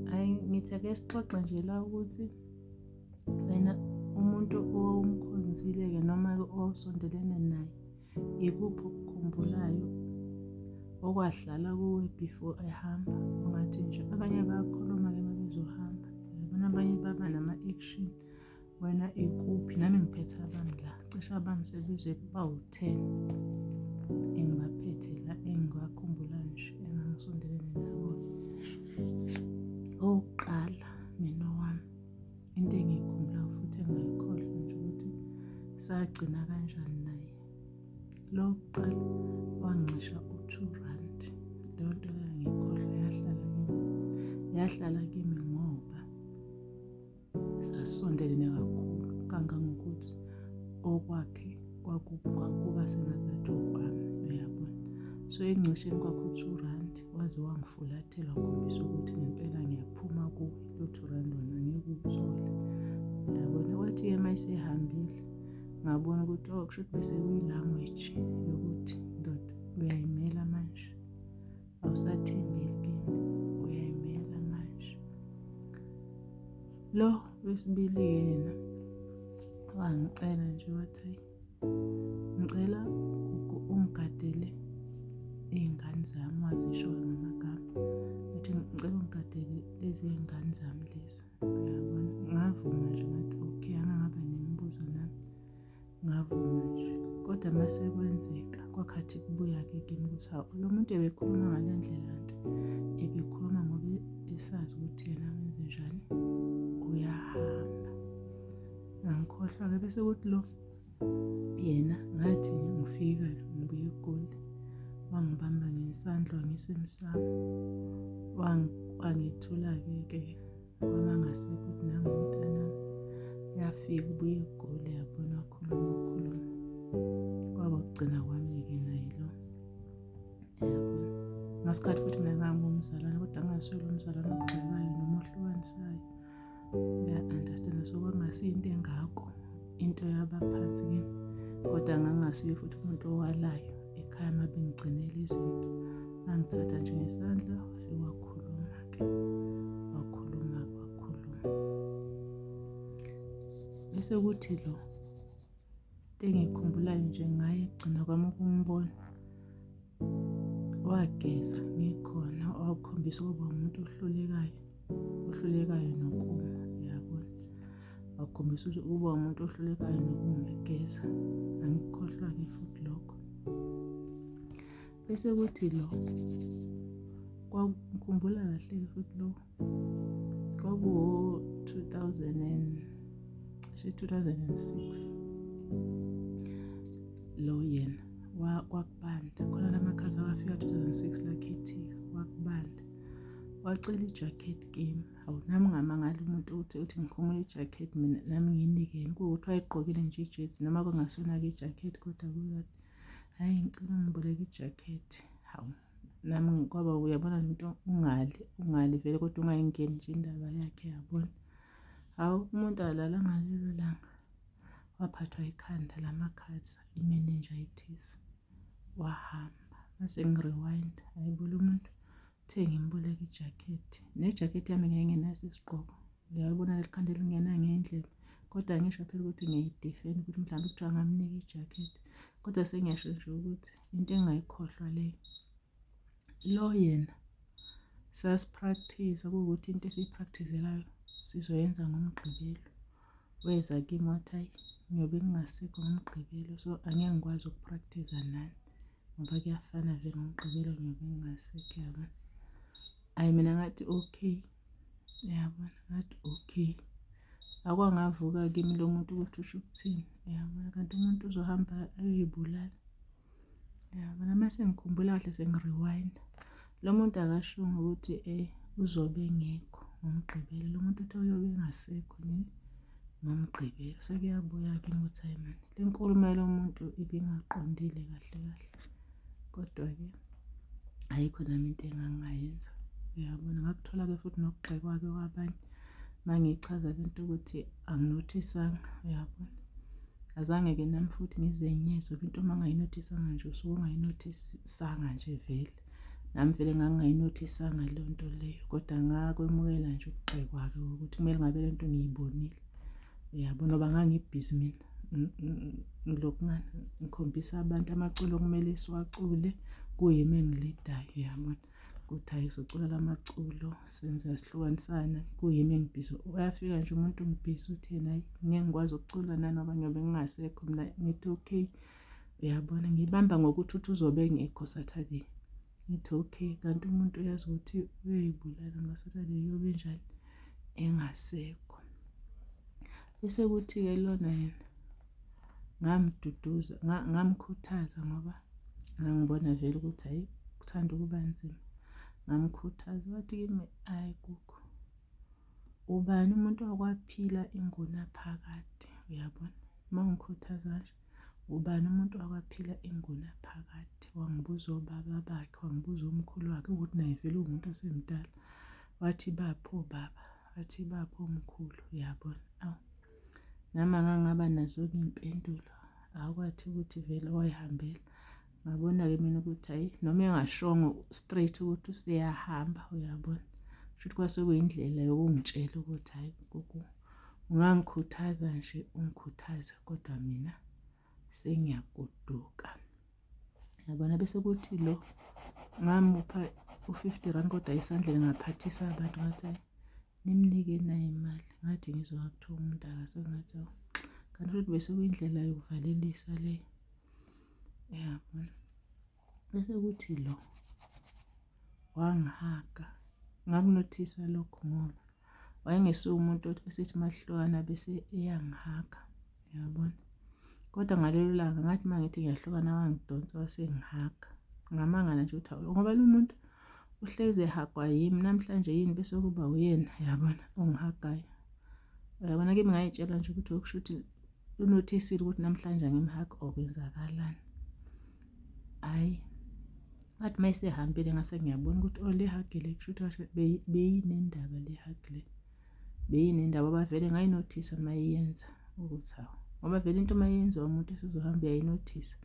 Hhayi ngithi ake sixoxe nje la ukuthi wena umuntu owumkhonzile-ke noma-ke osondelene naye yikuphi okukhumbulayo okwadlala kuwe before ehamba ungathi nje abanye bayakhuluma-ke uma bezohamba yabona abanye baba nama-action wena ikuphi nami ngiphethe abami la cishe abami sebize bawu-ten engibaphethe la engibakhumbula nje engangisondelene nabo owokuqala mina owami into engiyikhumbulayo futhi engayikhohlwa nje ukuthi sagcina kanjani naye lo kuqala wancisha u-two rand leyo nto engangiyikhohlwa yahlala kimi yahlala kimi sasondelene kakhulu kangangokuthi okwakhe kwakuba sengazathi okwami uyabona so ekuncisheni kwakho u-two rand waze wangifulathela wakhombisa ukuthi ngempela ngiyaphuma kuwe lo-two rand wona ngeke uthole uyabona wathi yema isehambile ngabona ukuthi oh kusho ukuthi bese kuyi-language yokuthi ndoda uyayimela manje awusathembekile uyayimela manje lo wesibili yena wangicela nje wathi ngicela ungigadele iy'ngane zami wazisho ngamagama athi ngicela ungigadele lezi y'ngane zami lezi uyabona ngavuma nje ngathi okay angangabe nemibuzo nami ngavuma nje kodwa uma sekwenzeka kwakhathi kubuya-ke kimi ukuthi hawu lo muntu ebekhuluma ngale ndlela nto ebekhuluma ngoba esazi ukuthi yena wenze njani uyahamba ngangikhohlwa-ke bese kuthi lo yena ngathi ngifika ngibuye egoli wangibamba ngesandla wangisemsamo wangithula-ke ke Ubaba ngasekho ukuthi nangu umntana yafika ubuye egule yabona wakhuluma wakhuluma kwaba kugcina kwami-ke naye lo yabona ngasikhathi futhi mina ngangumzalwane kodwa angaswele umzalwane ogxekayo noma ohlukanisayo uya-understand so kwakungasiyo into engako into yabaphansi kimi kodwa ngangingasuye futhi umuntu owalayo ekhaya uma bengigcinela izinto angithatha nje ngesandla okay. wakhuluma wakhuluma bese kuthi lo engikhumbulayo nje ngaye kugcina kwami ukumbona wageza ngikhona wakhombisa ukuba umuntu ohlulekayo ohlulekayo nokuma yabona wakhombisa ukuthi uba umuntu ohlulekayo nokuma egeza angikukhohlwa-ke futhi lokho bese kuthi lo kwakukhumbula kahle futhi lo kwakuwo 2000 cishe 2006 lo yena kwakubanda khona lamakhaza awafika 2006 lakhethika kwakubanda wacela ijacket kimi hawu nami ngamangala umuntu uthi uthi ngikhumula ijacket mina nami ngiyinikeni kuwukuthi wayegqokile nje ijezi noma kungasona-ke ijacket kodwa kuyona hayi ngicela ngiboleke ijakhethi hawu nami ngikwaba uyabona le nto ungali ungali vele kodwa ungayingeni nje indaba yakhe yabona hawu umuntu alala ngalelo langa waphathwa ikhanda lamakhaza imeninjayitis wahamba mase ngi-rewind ayibula umuntu Uthe ngimboleke ijakhethi. Nejakhethi yami ngingenaso isigqoko. Ngiyabona leli khanda elingena ngendlela. Kodwa ngisho phela ukuthi ngiyidefend ukuthi mhlawumbe kuthiwa ngamnika ijakhethi. Kodwa sengiyasho nje ukuthi into engayikhohlwa le. Lo yena sasipractice kuwukuthi into esiyipracticelayo sizoyenza ngomgqibelo. Weza kimi wathi hayi ngiyobe ngingasekho ngomgqibelo so angeke ngikwazi ukupractice nani. ngoba kuyafana vele ngomgqibelo ngiyobe ngingasekho yabona ayi mina ngathi okay yabona ngathi okay akwangavuka kimi lo muntu ukuthi usho ukuthini yabona kanti umuntu uzohamba ayoyibulala yabona uma sengikhumbula kahle sengi-rewinda Lo muntu akashongo ukuthi eh uzobe engekho ngomgqibelo lo muntu uthi uyobe engasekho nini ngomgqibelo sekuyabuya-ke ukuthi hayi mani le nkulumo yalo muntu ibingaqondile kahle kahle kodwa-ke ayikho nami into engangingayenza uyabona ngakuthola-ke futhi nokugxekwake kwabanye uma ngichaza le nto ukuthi anginothisanga uyabona azange-ke nami futhi ngizenyezwe into uma ngayinothisanga nje usuke ungayinothisanga nje vele nami vele ngangingayinothisanga leyo nto leyo kodwa ngakwemukela nje ukugxekwa-ke ukuthi kumele ngabe le nto ngiyibonile uyabo noba ngangibhizi mina ngilokungana ngikhombisa abantu amaculo okumele siwacule kuyimi engilidayo uyabona ukuthi hhayi socula la maculo senza sihlukanisana kuyimi engibhizi uyafika nje umuntu ungibhizi uthi yena hhayi ngeke ngikwazi ukucula nanoba ngiyobe ngingasekho mina ngithi okay uyabona ngibamba ngokuthi uthi uzobe engekho saturday ngithi okay kanti umuntu uyazi ukuthi uyoyibulala ngasaturday uyobe njani engasekho bese kuthi-ke lona yena ngamduduza ngamkhuthaza ngoba ngangibona vele ukuthi hhayi kuthanda ukuba nzima ngamkhuthaza wathi kimi hhayi kukho ubani umuntu wakwaphila ingunaphakade uyabona uma ngikhuthaza nje ubani umuntu wakwaphila inguna phakathi wangibuza obaba bakhe wangibuza umkhulu wakhe ukuthi naye vele uwumuntu osemdala wathi bapho baba wathi bapho mkhulu yabona awu nami angangaba nazo-ke iy'mpendulo akwathi ukuthi vele wayihambela ngabona-ke mina ukuthi hhayi noma engashongo straight ukuthi useyahamba uyabona shuthi kwase kuyindlela yokungitshela ukuthi hhayi gogo ungangikhuthaza nje ungikhuthaze kodwa mina sengiyagoduka yabona bese kuthi lo ngamupha u-fifty rand kodwa esandleni ngaphathisa abantu ngathi hhayi nimnike nayo imali ngathi ngizwa kuthiwa umuntu akasengathi kanti futhi bese kuyindlela yokuvalelisa leyo yabona bese kuthi lo wangihaga ngakunothisa lokho ngoba wayengesuke umuntu esithi mahlukana bese eyangihaga yabona kodwa ngalelo langa ngathi uma ngithi ngiyahlukana wangidonsa wasengihaga ngamanga nje ukuthi awulo ngoba lo muntu uhlezi ehagwa yimi namhlanje yini bese kuba uyena yabona ongihagayo uyabona kimi ngayitshela nje ukuthi okusho ukuthi lunothisile ukuthi namhlanje angimhagi okwenzakalani hhayi but uma esehambile ngase ngiyabona ukuthi o oh, lihagile kushuthi kasho beyinendaba lihagile beyinendaba bavele ngayinothisa uma iyenza ukuthi hawu ngoba vele into uma yenziwa umuntu esizohamba uyayinothisa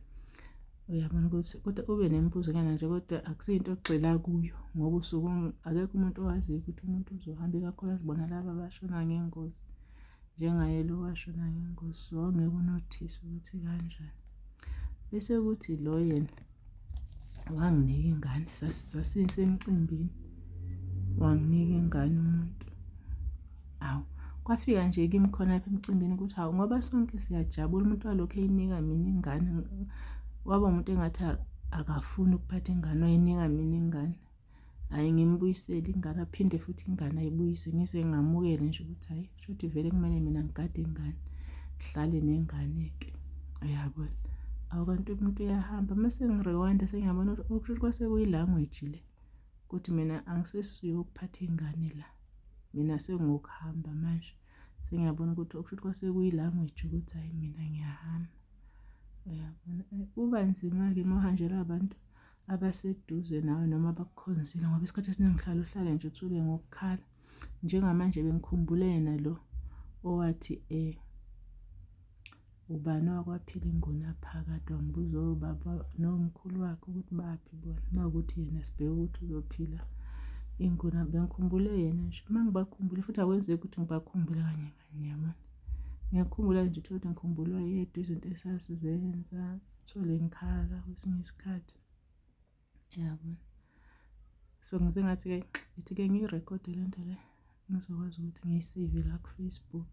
uyabona ukuthi kodwa ube nemibuzo nyana nje kodwa akusiyinto ogxila kuyo ngoba usuke akekho umuntu owaziyo ukuthi umuntu uzohamba ikakhulu azibona laba abashona ngengozi njengaye lo washo naye ingosi wawungeke unothise ukuthi kanjani bese kuthi lo yena wanginika ingane sasisemcimbini wanginika ingane umuntu awu kwafika nje kimi khona lapha emcimbini ukuthi hawu ngoba sonke siyajabula umuntu walokhu eyinika mina ingane waba umuntu engathi akafuni ukuphatha ingane wayinika mina ingane hhayi ngimbuyisele ingane aphinde futhi ingane ayibuyise ngize ngamukele nje ukuthi hhayi shuthi vele kumele mina ngigade ingane ngihlale nengane-ke uyabona awu kanti umuntu uyahamba uma sengirewanda sengiyabona ukuthi okusho ukuthi kwase kuyilanguage le ukuthi mina angisesiyo ukuphatha ingane la mina sengokuhamba manje sengiyabona ukuthi okusho ukuthi kwase kuyilanguage ukuthi hhayi mina ngiyahamba uyabona kuba nzima-ke uma uhanjelwa abantu abaseduze nawe noma abakukhonzile ngoba isikhathi esiningi uhlala uhlale nje uthule ngokukhala njengamanje bengikhumbule yena lo owathi eh ubani wakwaphila ingona phakathi wangibuza obaba oh, nomkhulu wakhe ukuthi baphi bona uma ukuthi yena sibheke ukuthi uzophila ingona bengikhumbule yena nje uma ngibakhumbule futhi akwenzeki ukuthi ngibakhumbule kanye Ngiyabona. Ngiyakhumbula nje uthole ukuthi ngikhumbulwa yedwa izinto esasizenza, uthole ngikhala kwesinye isikhathi. Yabo. So ngize ngathi-ke ithi-ke ngiyirekhode le nto le ngizokwazi ukuthi ngiyiseyve la kuFacebook.